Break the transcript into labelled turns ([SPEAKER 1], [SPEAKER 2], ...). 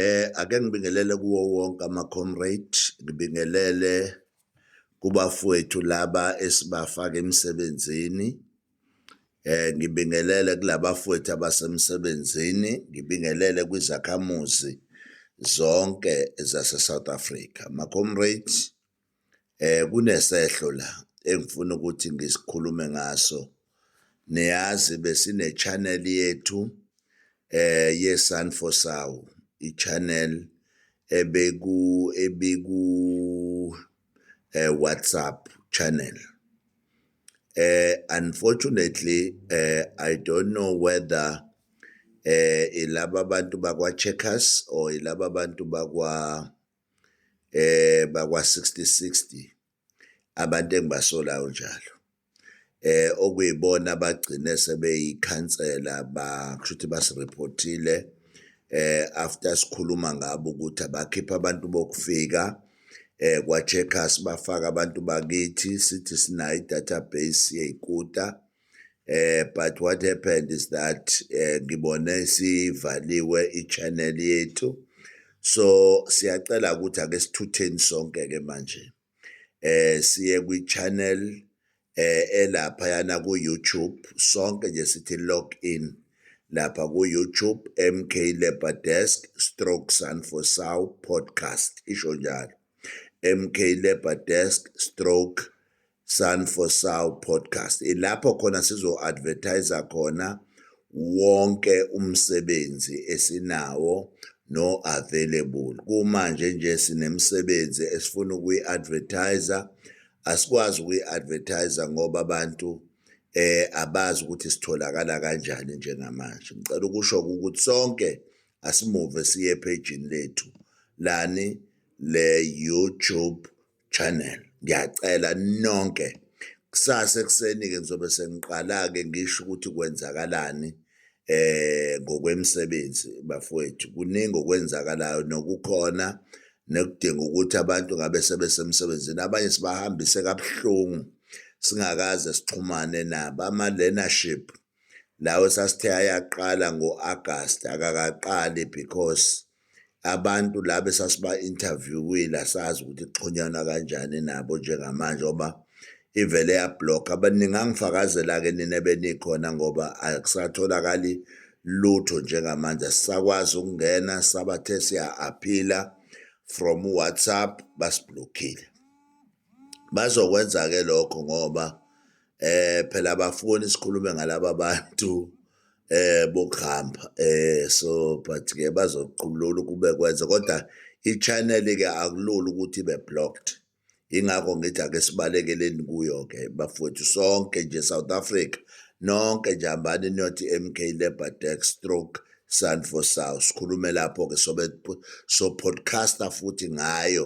[SPEAKER 1] Eh ake ngibingelele kuwo wonke ama comrade ngibingelele kubafowethu laba esibafaka emsebenzini eh ngibingelele kulabafowethu abasemsebenzini ngibingelele kwizakhamuzi zonke zase South Africa ma comrades um kunesehlo la engifuna ukuthi ngisikhulume ngaso niyazi besine-channel yethu eh yeSun for Saw i-channel ebeku ebiku eh WhatsApp channel eh unfortunately eh I don't know whether eh ilaba abantu bakwa Checkers or ilaba abantu bakwa eh bakwa 6060 abantu engibasolayo njalo eh okuyibona abagcine sebeyikhansela ba kushuthi basireportile eh after sikhuluma ngabo ukuthi abakhipha abantu bokufika eh kwa checkers bafaka abantu bakithi sithi sinayo database yeyikuta eh but what happened is that eh, ngibone sivaliwe i-channel yethu so siyacela ukuthi ake sithutheni sonke ke manje eh siye kwi-channel eh elapha yana ku-YouTube sonke nje sithi log in lapha ku-YouTube MK Labor Desk stroke sun for sow podcast isho njalo MK Labor Desk stroke Sun for Sow podcast ilapho khona sizo advertiser khona wonke umsebenzi esinawo no available kumanje nje sinemsebenzi esifuna ukuyi advertiser asikwazi ukuyi advertiser ngoba abantu eh abazi ukuthi sitholakala kanjani njengamanje ngicela ukusho ukuthi sonke asimuve siye page lethu lani le YouTube channel ngiyacela nonke kusasa ekuseni-ke ngizobe sengiqala-ke ngisho ukuthi kwenzakalani eh ngokwemisebenzi bafowethu kuningi okwenzakalayo nokukhona nekudinga ukuthi abantu ngabe sebesemsebenzini abanye sibahambise kabuhlungu singakaze sixhumane nabo ama-learnership lawo sasithe ayaqala ngo-August akakaqali because abantu la besasiba-interviewile asazi ukuthi kuxhunyanwa kanjani nabo njengamanje oba ivele yablokha abaningi angifakazela-ke nina benikhona ngoba akusatholakali lutho njengamanje asisakwazi ukungena sabathe siya-aphila from whatsapp basiblokhile Bazokwenza-ke lokho ngoba um phela abafuni sikhulume ngalaba bantu um bokuhamba um so but-ke bazoqulula ukube kwenze kodwa i-channel-ke akulula ukuthi ibe blocked yingakho ngithi ake sibalekeleni kuyo-ke bafowethu sonke nje south africa nonke nje hambani niyothi m k labour dex stroke sun for south sikhulume lapho-ke sobe so-podcaster futhi ngayo